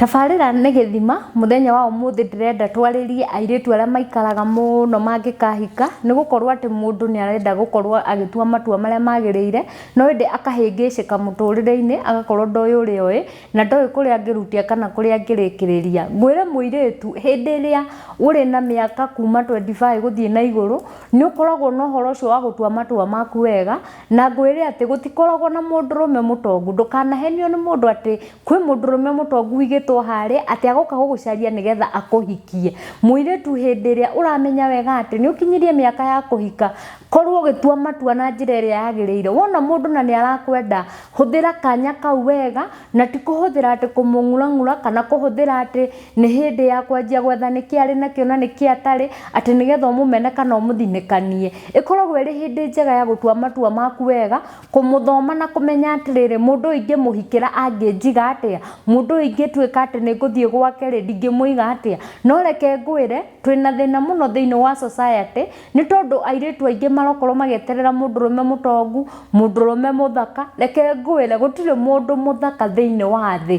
Tabarĩra nĩ gĩthima, mũthenya wa ũmũthĩ ndĩrenda twarĩrie airĩtu arĩa maikaraga mũno mangĩkahika, nĩ gũkorwo atĩ mũndũ nĩ arenda gũkorwo agĩtua matua marĩa magĩrĩire, no ĩndĩ akahĩngĩcĩka mũtũrĩre-inĩ, agakorwo ndoĩ ũrĩa oĩ, na ndoĩ kũrĩa angĩrutĩra kana kũrĩa angĩrĩkĩrĩria. Ngwĩre mũirĩtu, hĩndĩ ĩrĩa ũrĩ na mĩaka kuma twenty five gũthiĩ na igũrũ, nĩ ũkoragwo na ũhoro ũcio wa gũtua matua maku wega, na ngwĩre atĩ gũtikoragwo na mũndũrũme mũtongu ndũkanahenio nĩ mũndũ atĩ kwĩ mũndũrũme mũtongu wigĩtwo harĩ atĩ agoka gũgũcaria nĩgetha akũhikie mũirĩtu hĩndĩ ĩrĩa ũramenya wega atĩ nĩ ũkinyirie mĩaka ya kũhika korwo ũgĩtua matua na njĩra ĩrĩa yagĩrĩire wona mũndũ na nĩ arakwenda hũthĩra kanya kau wega na ti kũhũthĩra atĩ kũmũng'urang'ura kana kũhũthĩra atĩ nĩ hĩndĩ ya kwanjia gwetha nĩkĩ arĩ nakĩo na nĩkĩ atarĩ, atĩ nĩgetha ũmũmene kana ũmũthinĩkanie. Ĩkoragwo ĩrĩ hĩndĩ njega ya gũtua matua maku wega, kũmũthoma na kũmenya atĩrĩrĩ, mũndũ ũyũ ingĩmũhikĩra angĩnjiga atĩa? Mũndũ ũyũ ingĩtuĩka atĩ nĩ ngũthiĩ gwake rĩ, ndingĩmũiga atĩa? No reke ngwĩre, twĩna thĩna mũno thĩinĩ wa society, nĩ tondũ airĩtu aingĩ marokorwo magĩeterera mũndũrũme mũtongu, mũndũrũme mũthaka, reke ngwĩre, gũtirĩ mũndũ mũthaka thĩinĩ wa thĩ.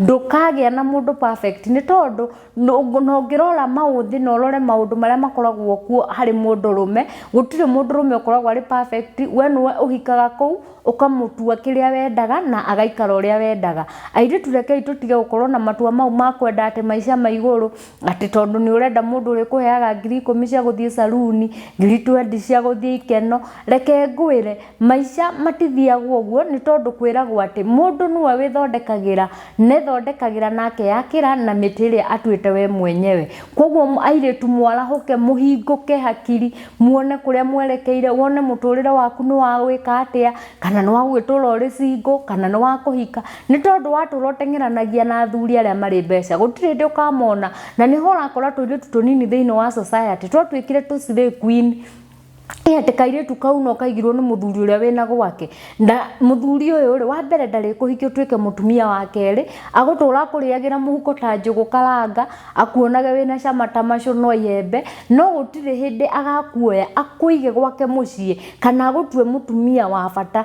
ndũkagĩa na mũndũ perfect nĩ tondũ na ũngĩrora maũthĩ na ũrore maũndũ marĩa makoragwo kuo harĩ mũndũ rũme gũtirĩ mũndũ rũme ũkoragwo arĩ perfect we nĩwe ũhikaga kũu ũkamũtua kĩrĩa wendaga na agaikara ũrĩa wendaga. Airĩtu rekei tũtige gũkorwo na matua mau ma kwenda atĩ maica ma igũrũ atĩ tondũ nĩ ũrenda mũndũ ũrĩ kũheaga ngiri ikũmi cia gũthiĩ saruni ngiri twendi cia gũthiĩ ikeno reke ngwĩre maica matithiagwo ũguo nĩ tondũ kwĩragwo atĩ mũndũ nĩwe wĩthondekagĩra na ethondekagĩra na akeyakĩra na mĩtĩ ĩrĩa atuĩte we mwenyewe koguo airĩtu mwarahũke mũhingũke hakiri muone kũrĩa mwerekeire wone mũtũrĩre waku nĩ wa gwĩka atĩa kana nĩ wa gũgĩtũra ũrĩ single kana nĩ wa kũhika nĩ tondũ watũra ũteng'eranagia na athuri arĩa marĩ mbeca gũtirĩ hĩndĩ ũkamona na nĩho ũrakora tũirĩtu tũnini thĩinĩ wa society twatuĩkire tũ slay queen ĩhete kairĩtu kau no kaigirwo nĩ mũthuri ũrĩa wĩna gwake na mũthuri ũyũ rĩ wa mbere ndarĩ kũhikia ũtuĩke mũtumia wa kerĩ agũtũra akũrĩagĩra mũhuko ta njũgũ karanga akuonage wĩna cama ta macũ no iembe no gũtirĩ hĩndĩ agakuoya akũige gwake mũciĩ kana agũtue mũtumia wa bata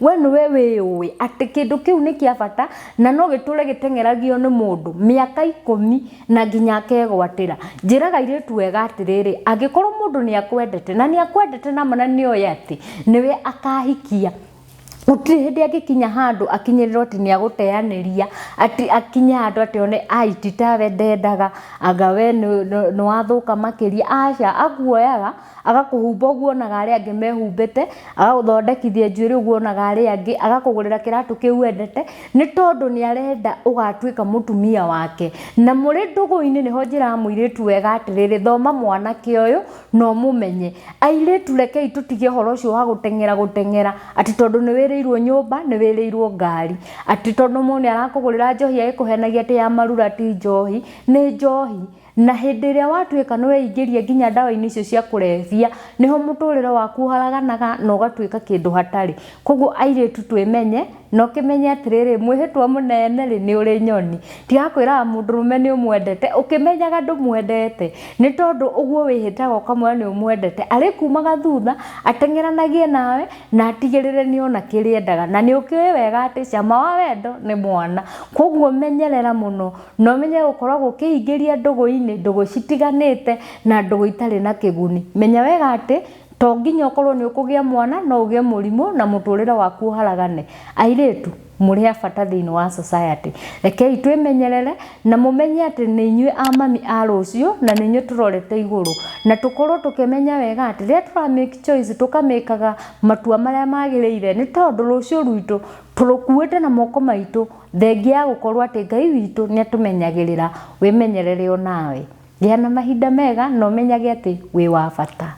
we nĩwe wĩũĩ atĩ kĩndũ kĩu nĩ kĩa bata na no gĩtũre gĩteng'eragio nĩ mũndũ mĩaka ikũmi na nginya akegwatĩra njĩra airĩtu wega atĩrĩrĩ angĩkorwo mũndũ nĩ akwendete na nĩ akwendete nama na nĩ oĩ atĩ nĩwe akahikia gũtirĩ hĩndĩ angĩkinya handũ akinyĩrĩrwo atĩ nĩ agũteanĩria atĩ akinye handũ atĩ one ai ti tawe ndendaga anga we nĩ wathũka makĩria aca akuoyaga agakũhumba ũguo onaga arĩa angĩ mehumbĩte agagũthondekithia njuĩrĩ ũguo onaga arĩa angĩ agakũgũrĩra kĩratũ kĩu wendete nĩ tondũ nĩ arenda ũgatuĩka mũtumia wake na mũrĩ ndũgũ-inĩ nĩho njĩraga mũirĩtu wega atĩrĩrĩ thoma mwanake ũyũ na ũmũmenye airĩtu rekei tũtige ũhoro ũcio wa gũteng'era gũteng'era atĩ tondũ nĩ wĩrĩirwo nyũmba nĩ wĩrĩirwo ngari atĩ tondũ mũndũ nĩ arakũgũrĩra njohi agĩkũhenagia atĩ ya marura ti njohi nĩ njohi Na hĩndĩ ĩrĩa watuĩka nĩ weingĩria nginya ndawa-inĩ icio cia kũrebia, nĩho mũtũrĩre waku ũharaganaga na ũgatuĩka kĩndũ hatarĩ. Koguo airĩtu twĩmenye, na ũkĩmenye atĩrĩrĩ, mwĩhĩtwa mũnene rĩ, nĩ ũrĩ nyoni. Ndirakwĩraga mũndũrũme nĩ ũmwendete, ũkĩmenyaga ndũmwendete, nĩ tondũ ũguo wĩhĩtaga ũkamwĩra nĩ ũmwendete, arĩkumaga thutha, ateng'eranagie nawe, na atigĩrĩre nĩ ona kĩrĩa endaga. Na nĩ ũkĩũĩ wega atĩ cama wa wendo nĩ mwana. Koguo menyerera mũno. No menye gũkorwo gũkĩingĩria ndũgũ-inĩ, ndũgũ citiganĩte na ndũgũ itarĩ na kĩguni. Menya wega atĩ to nginya ũkorwo nĩ ũkũgĩa mwana, no ũgĩe mũrimũ na mũtũrĩre waku ũharagane. Airĩtu, mũrĩ a bata thĩinĩ wa society. Rekei twĩmenyerere na mũmenye atĩ nĩ inyuĩ a mami a rũciũ na nĩ inyuĩ tũrorete igũrũ. Na tũkorwo tũkĩmenya wega atĩ rĩrĩa tũra make choice, tũka make aga matua marĩa magĩrĩire, nĩ tondũ rũciũ rwitũ tũrũkuĩte na moko maitũ. Thengia ya gũkorwo atĩ Ngai witũ nĩ atũmenyagĩrĩra, wĩmenyerere o nawe. Gĩa na mahinda mega na ũmenyage atĩ wĩ wa bata.